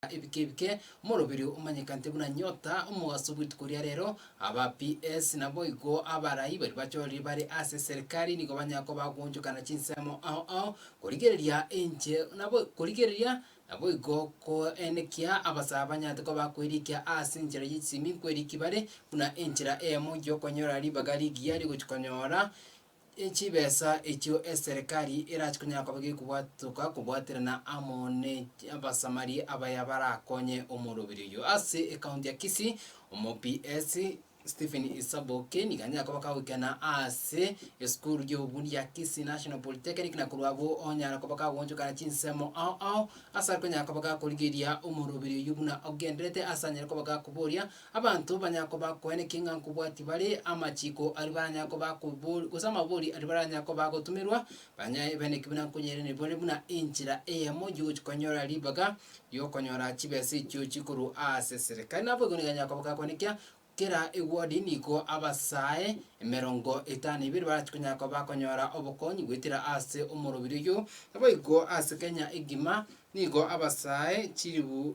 na ebike ebike, omoroberio omanyekante buna nyota, omogaso bw'rituko ria rero, aba PS naboigo abarai baria bachorire bare ase serikari nigo banyare koba bagoonchokana chinsemo ao ao, korigereria enche nabo korigereria naboigo koenekia abasaa banyarete koba bakoerikia ase enchera ye chisemi nkoerikia bare buna enchera eyemo gi'okonyora ribaga rigiya rigochi konyora chibesa echio eserekari erache konyara koba gekobwatoka kobwaterana amo ne abasamari abaya barakonye omorobiri oyio. Ase ekaunti ya Kisii, omops Stephen Isaboke nigo anyare koba kagoikena ase esukuru y'obufundi ya Kisii National Polytechnic na korwa abwo onyara koba kagoonchokana chinsemo ao ao ase are konyara koba gakorigeria omorobiri oyio buna ogenderete ase anyare koba gakoboria Abanto banyare koba koe ne king'a nkobwati bare amachiko aria baranyare koba kobori, gose amabori aria baranyare koba gotumerwa, banya ebe ne kebina nkonyeire ne bare buna enchera eyemo yogochia konyora ribaga ri'okonyora chibesa echio chikorwa ase serikali. Nabo igo nigo anyare koba gakoanekia kera ewodi nigo abasae emerongo etano na ibere barachia konyara koba bakonyora obokonyi goetera ase omorobiri oyio. Naboigo ase Kenya egima nigo abasae chilifu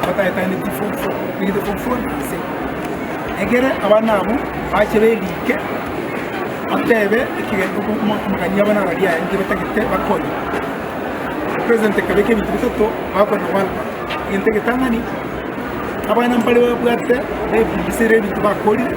Bataetaneti fofo, egete fofo ase egere abana abwo bache beriike, batebe ekirengo omotung'ani abana baria aenge batagete bakonye. President akabeka ebinto bitato bakona one one. Egento egetang'ani, abana mbare babwate baefundisere ebinto bakorire.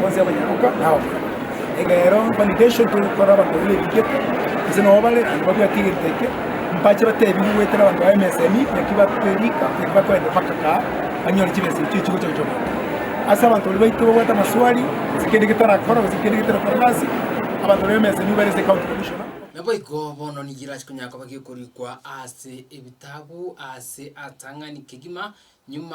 Bonsi abanyaroka nabakungu, egero validation togokora abanto babe nebigete gose nabo bare aye babwate egento eke, mpache batebiwe goetera abanto ba MSME naki babe rika naki bakoenda mpaka kaa banyore chibesa echio chigocha gochia omobere. Ase abanto baria baito babwate amaswali gose kende getarakora gose kende getarakora gasi, abanto ba MSME bare ase County Commissioner. Naboigo bono nigo erase konyara koba gekorikwa ase ebitabu ase atang'ani kegima, nyuma.